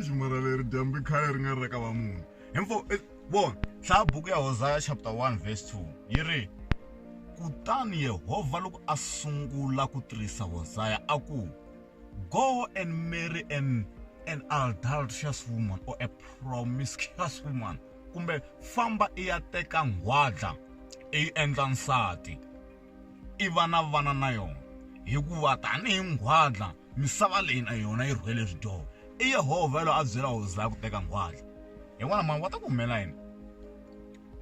ximara leri dyambu i khale ri nga ri ka va munhu hinfo vona hlaya buku ya hosaya chapter 1 verse 2 yi ri kutani yehovha loko a sungula ku tirhisa hosaya a ku Go and marry an, an adulterous woman or a promiscuous woman. Kumbe famba i ya teka nghwadla i yi endla nsati i va na vana na yona hikuva tanihi nghwadla misava leyi na yona yi rhwele swidyoho i yehovha yelweyo a byela hosaya ku teka nghwadla hi vona mhani va ta ku humelela yini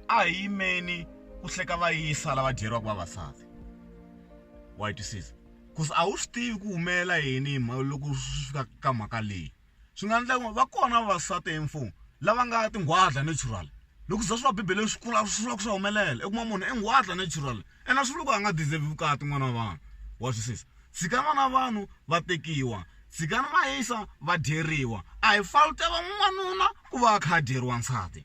a hi yimeni ku hleka va yisa lava dyeriwaka vavasati wa yi twisisa cause a wu swi tivi ku humelela yini hi mhaka loko swi fika ka mhaka leyi swi nga endla va kona vavasati hi mfumo lava nga tinghwaza natural loko u za swi va bibeleni swi kula swi vula ku swa humelela i kuma munhu i nghwaza natural ene a swi vuli ku a nga deserve vukati n'wana wa vanhu wa twisisa tshika n'wana wa vanhu va tekiwa tshikani va yisa va dyeriwa a hi fault ya va n'wanuna ku va a kha a dyeriwa nsati.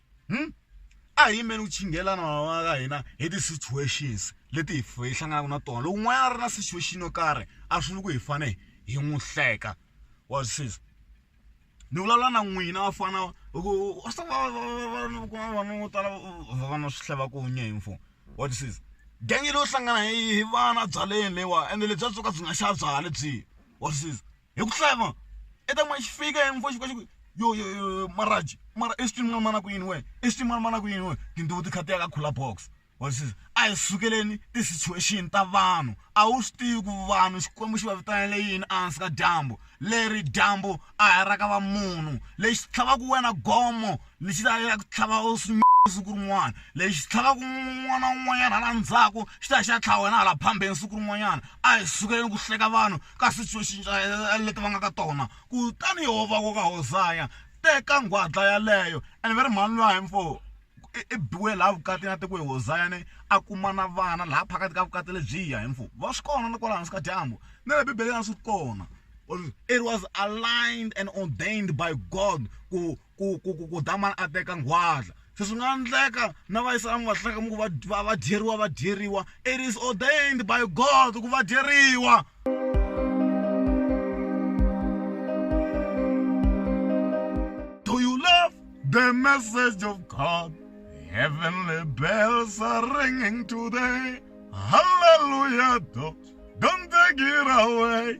hmm? a hi yimeni ku chingelana van'wana ka hina hi ti-situations leti hi hi hlanganaka na tona loko n'wana a ri na situation yo karhi a swi vuli ku hi fane hi n'wi hleka wa swi siza ni vulavula na n'wina va fana vanhu vo tala va na swi hleva kunye hi mfo wa swi siza gangi leyo hlangana hi vana byaleni leyiwa ende lebyi a byo ka byi nga xa byala lebyiya wa swi siza hi ku hlaya ma i ta ma xi fika hi mfo xi fika xi ku yo yo yo maraji mara exitwini n'wana mana ku yini wena exitwini n'wana mana ku yini wena tintiho ti kha ti ya ka khula box wa swi a hi sukeleni ti-situation ta vanhu a wu swi tivi ku vanhu xikwembu xi va vitanele yini ehansi ka dyambu leri dyambu a hi ra ka va munhu lexi tlhavaku wena gomo lexi ta ya ku tlhava u swi siku rin'wana lexi tlhavaku n'wana un'wanyana hala ndzhaku xi ta xi ya tlhava wena hala phambeni siku rin'wanyana a hi sukeleni ku hleka vanhu ka situations leti va nga ka tona kutani yoho va ku ka Hosaya teka nghwadla yaleyo and va ri mhani luya hi mfo i biwe laha vukati na tiko hi Hosaya ni a kuma na vana laha phakati ka vukati lebyiya hi mfo va swi kona ni kwala hansi ka dyambu ni le bibeleni a swi kona it was aligned and ordained by God ku ku ku ku ku damani a teka nghwaza se swi nga endleka na va yisa emahlaka mi ku va va va dyeriwa va dyeriwa it is ordained by god ku va dyeriwa do you love the message of god heavenly bells are ringing today hallelujah don't take it away